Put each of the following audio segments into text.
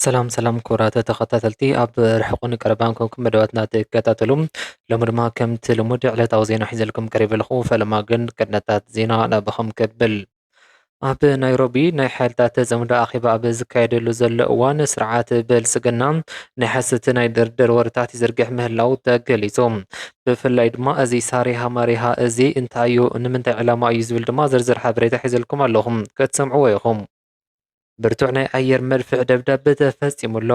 ሰላም ሰላም ክቡራት ተኸታተልቲ ኣብ ርሕቑን ቀረባን ኮንኩም መደባትና ትከታተሉ ሎሚ ድማ ከምቲ ልሙድ ዕለታዊ ዜና ሒዘልኩም ቀሪበ ኣለኹ ፈለማ ግን ቅድነታት ዜና ናብኹም ከብል ኣብ ናይሮቢ ናይ ሓይልታት ጽምዶ ኣኼባ ኣብ ዝካየደሉ ዘሎ እዋን ስርዓት ብልጽግና ናይ ሓሰቲ ናይ ድርድር ወረታት ይዝርግሕ ምህላው ተገሊጹ። ብፍላይ ድማ እዚ ሳሪሃ ማሪሃ እዚ እንታይ እዩ ንምንታይ ዕላማ እዩ ዝብል ድማ ዝርዝር ሓበሬታ ሒዘልኩም ኣለኹም ክትሰምዕዎ ኢኹም። ብርቱዕ ናይ ኣየር መድፍዕ ደብዳብ ተፈጺሙ ኣሎ።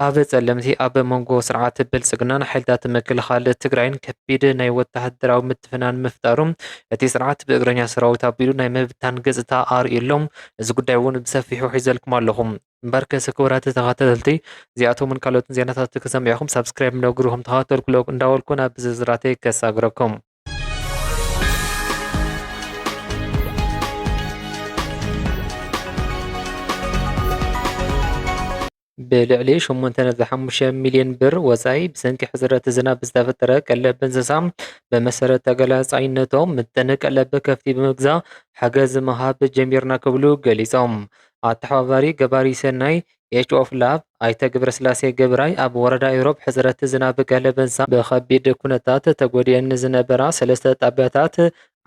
ኣብ ጸለምቲ ኣብ መንጎ ስርዓት ብልጽግናን ሓይልታት ምክልኻል ትግራይን ከቢድ ናይ ወተሃደራዊ ምትፍናን ምፍጣሩ እቲ ስርዓት ብእግረኛ ሰራዊት ኣቢሉ ናይ ምብታን ገጽታ ኣርእዩ ኣሎ። እዚ ጉዳይ እውን ብሰፊሑ ሒዘልኩም ኣለኹ። እምበርከስ ክቡራት ተኸታተልቲ እዚኣቶምን ካልኦትን ዜናታት ክሰምዕኹም ሳብስክራይብ ነግሩኹም ተኸታተልኩ እንዳበልኩ ናብ ዝርዝራተይ ከሳግረኩም። ብልዕሊ ሸሞንተ ነጥቢ ሓሙሽተ ሚልየን ብር ወፃኢ ብሰንኪ ሕፅረት ዝናብ ዝተፈጠረ ቀለብ እንስሳ ብመሰረት ተገላፃይነቶም ምጥን ቀለብ ከፍቲ ብምግዛእ ሓገዝ ምሃብ ጀሚርና ክብሉ ገሊፆም። ኣተሓባባሪ ገባሪ ሰናይ ኤች ኦፍ ላቭ ኣይተ ገብረስላሴ ገብራይ ኣብ ወረዳ ኢሮብ ሕፅረት ዝናብ ቀለብ እንስሳ ብከቢድ ኩነታት ተጎዲኤን ዝነበራ ሰለስተ ጣብያታት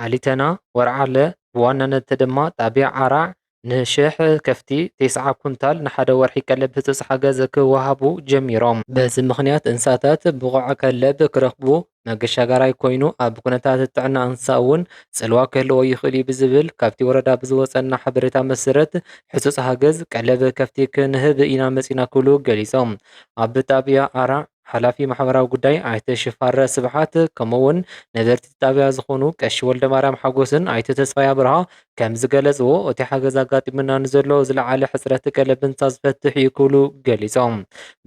ዓሊተና፣ ወርዓለ ብዋናነት ድማ ጣብያ ዓራዕ ንሽሕ ከፍቲ ቴስዓ ኩንታል ንሓደ ወርሒ ቀለብ ህጹጽ ሓገዝ ክወሃቡ ጀሚሮም። በዚ ምኽንያት እንስሳታት ብቑዕ ከለብ ክረኽቡ መገሻጋራይ ኮይኑ ኣብ ኩነታት ጥዕና እንስሳ እውን ጽልዋ ክህልዎ ይኽእል እዩ ብዝብል ካብቲ ወረዳ ብዝወጸና ሓበሬታ መሰረት ህጹጽ ሃገዝ ቀለብ ከፍቲ ክንህብ ኢና መጺና ክብሉ ገሊጾም። ኣብ ጣብያ ኣራዕ ሓላፊ ማሕበራዊ ጉዳይ ኣይተ ሽፋረ ስብሓት ከምኡ እውን ነበርቲ እቲ ጣብያ ዝኾኑ ቀሺ ወልደማርያም ሓጎስን ኣይተ ተስፋይ ኣብርሃ ከምዝገለፅዎ እቲ ሓገዝ ኣጋጢሙና ንዘሎ ዝለዓለ ሕፅረት ቀለብ እንስሳ ዝፈትሕ እዩ ክብሉ ገሊፆም።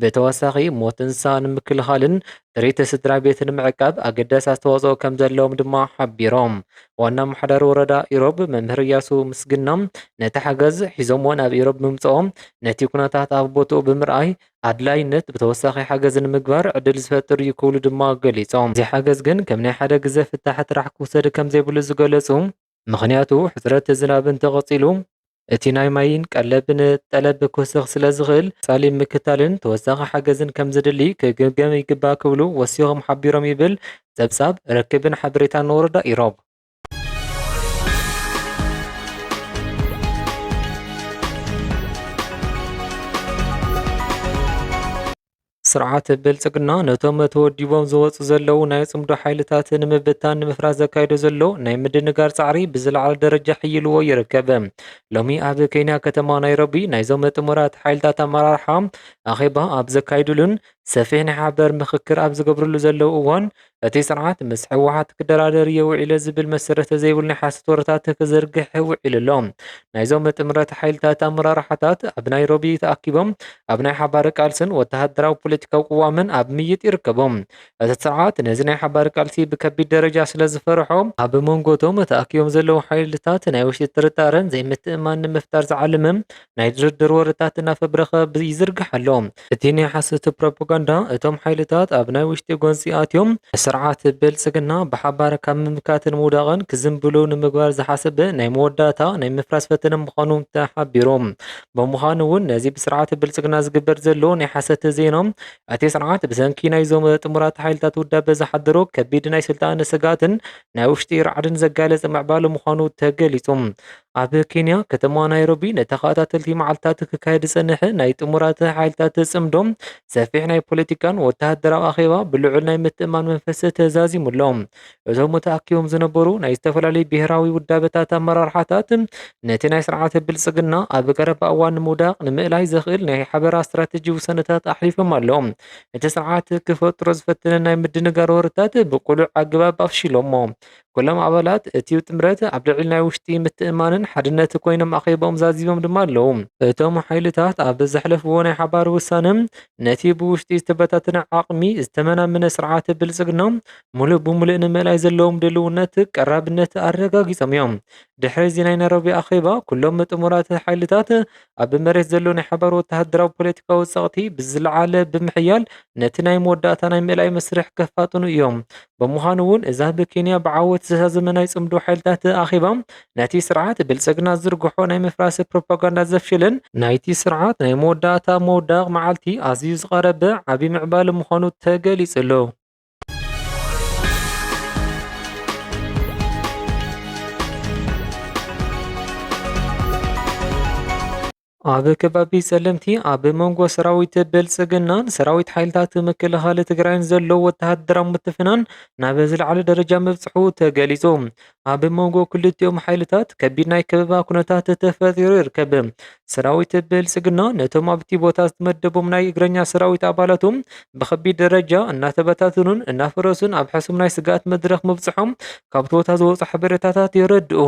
ብተወሳኺ ሞት እንስሳ ንምክልኻልን ጥሪት ስድራ ቤት ንምዕቃብ ኣገዳሲ ኣስተዋፅኦ ከምዘለዎም ድማ ሓቢሮም። ዋና ኣመሓዳሪ ወረዳ ኢሮብ መምህር እያሱ ምስግና ነቲ ሓገዝ ሒዞምዎ ናብ ኢሮብ ብምፅኦም ነቲ ኩነታት ኣብ ቦትኡ ብምርኣይ ኣድላይነት ብተወሳኺ ሓገዝ ንምግባር ዕድል ዝፈጥር እዩ ክብሉ ድማ ገሊፆም። እዚ ሓገዝ ግን ከም ናይ ሓደ ግዘ ፍታሕ ጥራሕ ክውሰድ ከምዘይብሉ ዝገለፁ ምኽንያቱ ሕፅረት ዝናብ እንተቐፂሉ እቲ ናይ ማይን ቀለብን ጠለብ ክውስኽ ስለዝኽእል ፀሊም ምክታልን ተወሳኺ ሓገዝን ከምዘድሊ ክግምገም ይግባእ ክብሉ ወሲኾም ሓቢሮም ይብል ፀብፃብ ርክብን ሓበሬታን ወረዳ ኢሮብ። ስርዓት ብልጽግና ነቶም ተወዲቦም ዝወፁ ዘለዉ ናይ ጽምዶ ሓይልታት ንምብታን ንምፍራስ ዘካይዶ ዘሎ ናይ ምድንጋር ጻዕሪ ብዝለዓለ ደረጃ ሕይልዎ ይርከብ። ሎሚ ኣብ ኬንያ ከተማ ናይሮቢ ናይዞም ጥሙራት ሓይልታት ኣመራርሓ ኣኼባ ኣብ ዘካይድሉን ሰፊሕ ናይ ሓበር ምኽክር ኣብ ዝገብርሉ ዘለዉ እዋን እቲ ስርዓት ምስ ህወሓት ክደራደር እየ ውዒለ ዝብል መሰረተ ዘይብሉ ናይ ሓሶት ወረታት ክዝርግሕ ውዒሉ ኣሎ። ናይዞም ጥምረት ሓይልታት ኣመራርሓታት ኣብ ናይሮቢ ተኣኪቦም ኣብ ናይ ሓባር ቃልስን ወተሃደራዊ ፖለቲካዊ ቅዋምን ኣብ ምይይጥ ይርከቡ። እቲ ስርዓት ነዚ ናይ ሓባር ቃልሲ ብከቢድ ደረጃ ስለዝፈርሖ፣ ኣብ መንጎ እቶም ተኣኪቦም ዘለዉ ሓይልታት ናይ ውሽጢ ጥርጣረን ዘይምትእምማን ንምፍጣር ዝዓለመ ናይ ድርድር ወረታት እናፈብረኸ ይዝርግሕ ኣሎ። እቲ ናይ ሓሶት ፕሮፓጋንዳ፣ እቶም ሓይልታት ኣብ ናይ ውሽጢ ጎንጺ ኣትዮም ንስርዓት ብልጽግና ብሓባር ካብ ምምካትን ምውዳቕን ክዝንብሉ ንምግባር ዝሓሰበ ናይ መወዳእታ ናይ ምፍራስ ፈተነ ምዃኑ ተሓቢሩ። ብምዃኑ'ውን ነዚ ብስርዓት ብልጽግና ዝግበር ዘሎ ናይ ሓሰት ዜና፣ እቲ ስርዓት ብሰንኪ ናይዞም ጥሙራት ሓይልታት ውዳበ ዝሓደሮ ከቢድ ናይ ስልጣን ስግኣትን ናይ ውሽጢ ራዕድን ዘጋለጸ ምዕባለ ምዃኑ ተገሊጹ። ኣብ ኬንያ ከተማ ናይሮቢ ንተኸታተልቲ መዓልትታት ክካየድ ዝጸንሐ ናይ ጥሙራት ሓይልታት ጽምዶ ሰፊሕ ናይ ፖለቲካን ወተሃደራዊ ኣኼባ ብልዑል ናይ ምትእማን መንፈስ ተዛዚሙ ኣሎ። እቶም ተኣኪቦም ዝነበሩ ናይ ዝተፈላለዩ ብሄራዊ ውዳበታት ኣመራርሓታት ነቲ ናይ ስርዓተ ብልጽግና ኣብ ቀረባ እዋን ንምውዳቕ ንምእላይ ዘኽእል ናይ ሓበራ ስትራቴጂ ውሳነታት ኣሕሊፎም ኣለዉ እቲ ስርዓት ክፈጥሮ ዝፈተነ ናይ ምድንጋር ወረታት ብቁሉዕ ኣገባብ ኣፍሺሎሞ ኩሎም ኣባላት እቲ ጥምረት ኣብ ልዕሊ ናይ ውሽጢ ምትእምማንን ሓድነት ኮይኖም ኣኼብኦም ዛዚሞም ድማ ኣለዉ። እቶም ሓይልታት ኣብ ዘሕለፍዎ ናይ ሓባር ውሳነ ነቲ ብውሽጢ ዝተበታተነ ዓቕሚ ዝተመናመነ ስርዓተ ብልጽግና ሙሉእ ብሙሉእ ንምእላይ ዘለዎም ድልውነት ቀራብነት ኣረጋጊጾም እዮም። ድሕሪ እዚ ናይ ናይሮቢ ኣኼባ ኩሎም ጥሙራት ሓይልታት ኣብ መሬት ዘሎ ናይ ሓባር ወተሃደራዊ ፖለቲካዊ ጸቕቲ ብዝለዓለ ብምሕያል ነቲ ናይ መወዳእታ ናይ ምእላይ መስርሕ ከፋጥኑ እዮም። ብምዃኑ እውን እዛ ብኬንያ ብዓወት ዝተዛዘመ ናይ ጽምዶ ሓይልታት ኣኼባ ነቲ ስርዓት ብልጽግና ዝዝርግሖ ናይ ምፍራስ ፕሮፓጋንዳ ዘፍሽልን ናይቲ ስርዓት ናይ መወዳእታ መውዳቕ መዓልቲ ኣዝዩ ዝቐረበ ዓቢ ምዕባለ ምዃኑ ተገሊጹ ኣሎ። ኣብ ከባቢ ጸለምቲ ኣብ መንጎ ሰራዊት ብልጽግናን ሰራዊት ሓይልታት ምክልኻል ትግራይን ዘሎ ወተሃደራዊ ምትፍናን ናብ ዝለዓለ ደረጃ ምብጽሑ ተገሊጹ። ኣብ መንጎ ክልቲኦም ሓይልታት ከቢድ ናይ ከበባ ኩነታት ተፈጢሩ ይርከብ። ሰራዊት ብልጽግና ነቶም ኣብቲ ቦታ ዝተመደቦም ናይ እግረኛ ሰራዊት ኣባላቱ ብከቢድ ደረጃ እናተበታትኑን እናፈረሱን ኣብ ሕሱም ናይ ስግኣት መድረኽ ምብጽሖም ካብቲ ቦታ ዝወጹ ሓበሬታታት የረድኡ።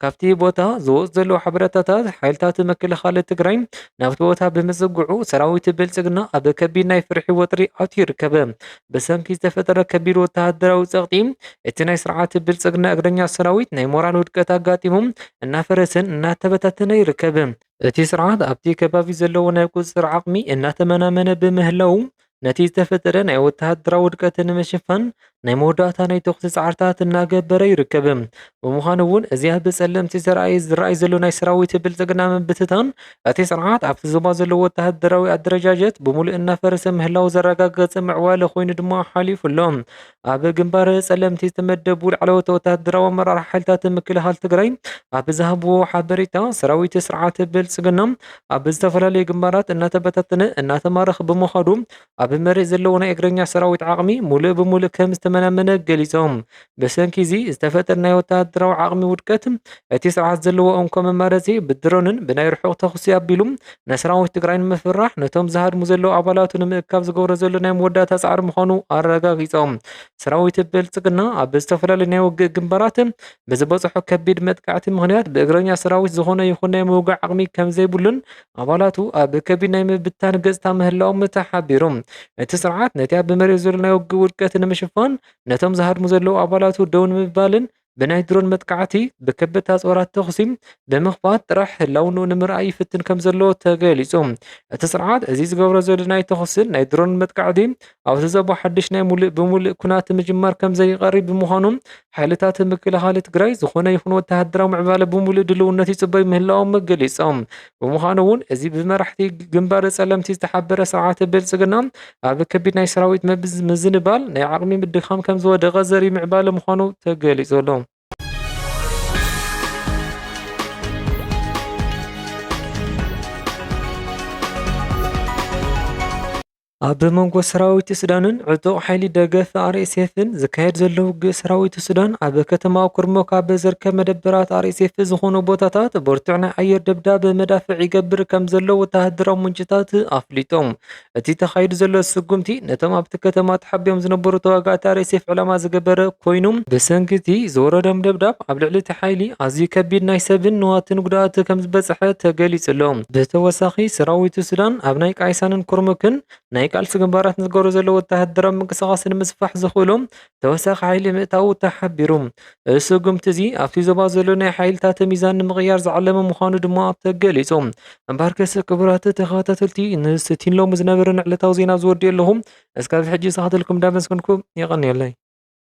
ካብቲ ቦታ ዝወጹ ዘለዉ ሓበሬታታት ሓይልታት ምክልኻል ትግራይ ናብቲ ቦታ ብምጽግዑ ሰራዊት ብልጽግና ኣብ ከቢድ ናይ ፍርሒ ወጥሪ ኣትዩ ይርከብ። ብሰንኪ ዝተፈጠረ ከቢድ ወተሃደራዊ ጸቕጢ፣ እቲ ናይ ስርዓት ብልጽግና እግረኛ ሰራዊት ናይ ሞራል ውድቀት ኣጋጢሙ እናፈረሰን እናተበታተነ ይርከብ። እቲ ስርዓት ኣብቲ ከባቢ ዘለዎ ናይ ቁጽጽር ዓቕሚ እናተመናመነ ብምህላዉ፣ ነቲ ዝተፈጠረ ናይ ወተሃደራዊ ውድቀት ንምሽፋን ናይ መወዳእታ ናይ ተኹሲ ጻዕርታት እናገበረ ይርከብ። ብምዃኑ'ውን እዚ ኣብ ጸለምቲ ዘርኣይ ዝርኣይ ዘሎ ናይ ሰራዊት ብልጽግና ምብትታን እቲ ስርዓት ኣብቲ ዞባ ዘለዎ ወተሃደራዊ ኣደረጃጀት ብምሉእ እናፈረሰ ምህላው ዘረጋገጸ ምዕባለ ኮይኑ ድማ ሓሊፉ ኣሎ። ኣብ ግንባር ጸለምቲ ዝተመደቡ ላዕለዎት ወተሃደራዊ ኣመራርሓ ሓይልታት ምክልኻል ትግራይ ኣብ ዝሃብዎ ሓበሬታ ሰራዊት ስርዓት ብልጽግና ኣብ ዝተፈላለዩ ግንባራት እናተበታተነ እናተማረኽ ብምዃዱ ኣብ መሬት ዘለዎ ናይ እግረኛ ሰራዊት ዓቕሚ ሙሉእ ብሙሉእ ከም ዝተመናመነ ገሊፆም። ብሰንኪ እዚ ዝተፈጠረ ናይ ወተሃደራዊ ዓቕሚ ውድቀት እቲ ስርዓት ዘለዎ እንኮ መማረፂ ብድሮንን ብናይ ርሑቕ ተኹሲ ኣቢሉ ንሰራዊት ትግራይ ንምፍርራሕ ነቶም ዝሃድሙ ዘለው ኣባላቱ ንምእካብ ዝገብሮ ዘሎ ናይ መወዳእታ ፃዕሪ ምዃኑ ኣረጋጊፆም። ሰራዊት ብልፅግና ኣብ ዝተፈላለዩ ናይ ውግእ ግንባራት ብዝበፅሖ ከቢድ መጥቃዕቲ ምኽንያት ብእግረኛ ሰራዊት ዝኾነ ይኹን ናይ ምውጋእ ዓቕሚ ከም ዘይብሉን ኣባላቱ ኣብ ከቢድ ናይ ምብታን ገጽታ ምህላዎም ተሓቢሩ። እቲ ስርዓት ነቲ ኣብ መሬት ዘሎ ናይ ውግእ ውድቀት ንምሽፋን ነቶም ዝሃድሙ ዘለዉ ኣባላቱ ደው ንምባልን ብናይ ድሮን መጥቃዕቲ፣ ብከበድቲ ኣጽዋራት ተዅሲ ብምኽፋት ጥራሕ ህላውንኡ ንምርኣይ ይፍትን ከምዘሎ ተገሊጹ። እቲ ስርዓት እዚ ዝገብሮ ዘሎ ናይ ተዅስን ናይ ድሮንን መጥቃዕቲ ኣብዚ ዘቦ ሓድሽ ናይ ሙሉእ ብሙሉእ ኩናት ምጅማር ከምዘይቐሪ ብምዃኑ ሓይልታት ምክልኻል ትግራይ ዝኾነ ይኹን ወተሃደራዊ ምዕባለ ብሙሉእ ድልውነት ይፅበዩ ምህላዎም ገሊፆም። ብምዃኑ እውን እዚ ብመራሕቲ ግንባር ፀለምቲ ዝተሓበረ ስርዓት ብልፅግና ኣብ ከቢድ ናይ ሰራዊት ምዝንባል፣ ናይ ዓቕሚ ምድኻም ከምዝወደቐ ዘርኢ ምዕባለ ምዃኑ ተገሊፁ ኣሎ። ኣብ መንጎ ሰራዊት ሱዳንን ዕጡቕ ሓይሊ ደገፍ ኣርኤስኤፍን ዝካየድ ዘሎ ውግእ ሰራዊት ሱዳን ኣብ ከተማ ኩርሞክ ኣብ ዝርከብ መደበራት ኣርኤስኤፍ ዝኾኑ ቦታታት ብርቱዕ ናይ ኣየር ደብዳብ መዳፍዕ ይገብር ከም ዘሎ ወተሃደራዊ ምንጭታት ኣፍሊጦም። እቲ ተኻይዱ ዘሎ ስጉምቲ ነቶም ኣብቲ ከተማ ተሓቢኦም ዝነበሩ ተዋጋእቲ ኣርኤስኤፍ ዕላማ ዝገበረ ኮይኑ ብሰንኪ እቲ ዝወረዶም ደብዳብ ኣብ ልዕሊ እቲ ሓይሊ ኣዝዩ ከቢድ ናይ ሰብን ንዋትን ጉድኣት ከም ዝበፅሐ ተገሊጹ ኣሎ። ብተወሳኺ ሰራዊት ሱዳን ኣብ ናይ ቃይሳንን ኩርሙክን ናይ ቃልሲ ግንባራት ንዝገብሮ ዘሎ ወተሃደራዊ ምንቅስቓስ ንምስፋሕ ዘኽእሎ ተወሳኺ ሓይሊ ምእታዉ ተሓቢሩ። እዚ ስጉምቲ እዚ ኣብቲ ዞባ ዘሎ ናይ ሓይልታተ ሚዛን ንምቕያር ዝዓለመ ምዃኑ ድማ ተገሊጹ። እምበኣርከስ ክቡራት ተኸታተልቲ ንዝቲ ን ሎሚ ዝነበረኒ ዕለታዊ ዜና ኣብዚ ወዲኤ ኣለኹ። እስካብ ሕጂ ዝሰሓተልኩም እንዳመስገንኩ የቐንየለይ።